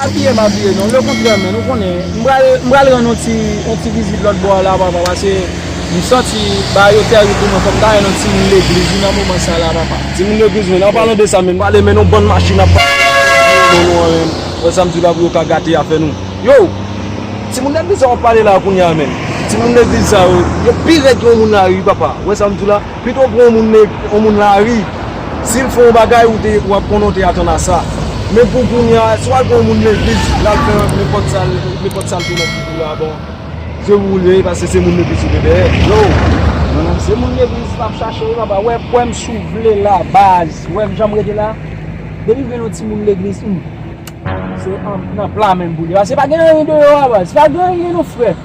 Apiye m apiye non, le kontrè men nou konnen m pral m pral rann yon ti yon ti vizit lòt bò a la papa pase m santi bagay yo tèri pou mwen fò m ta rann yon ti moun legliz wi nan moman sa la papa. Ti moun legliz men an palan de sa men m pale men yon bann machin ap pase m pa konn si yo bon nou anyen m wè sa m di la pou yo ka gate afè nou yow ti moun legliz sa wap pale la kounya menm ti moun legliz sa yo yo pi rèd ke yon moun lari wi papa wè sa m di w la. Pito pran yon moun lari, si l fè yon bagay ou ap konnen ou te atann a sa. Men pou kounye a, si w al pran yon moun legliz, l al fè nenpòt sa l te nan figi w a, bon, se pou ou l ye paske se moun legliz ou gen dèyè. Yo! Se moun legliz m ap chache wi papa, wè kwè m si w vle la baz, wè m jan m rete la, depi m jwenn yon ti moun legliz, humm, se nan pla menm pou l ye, paske pa gen anyen deyò a baz, pa gen anyen non frè.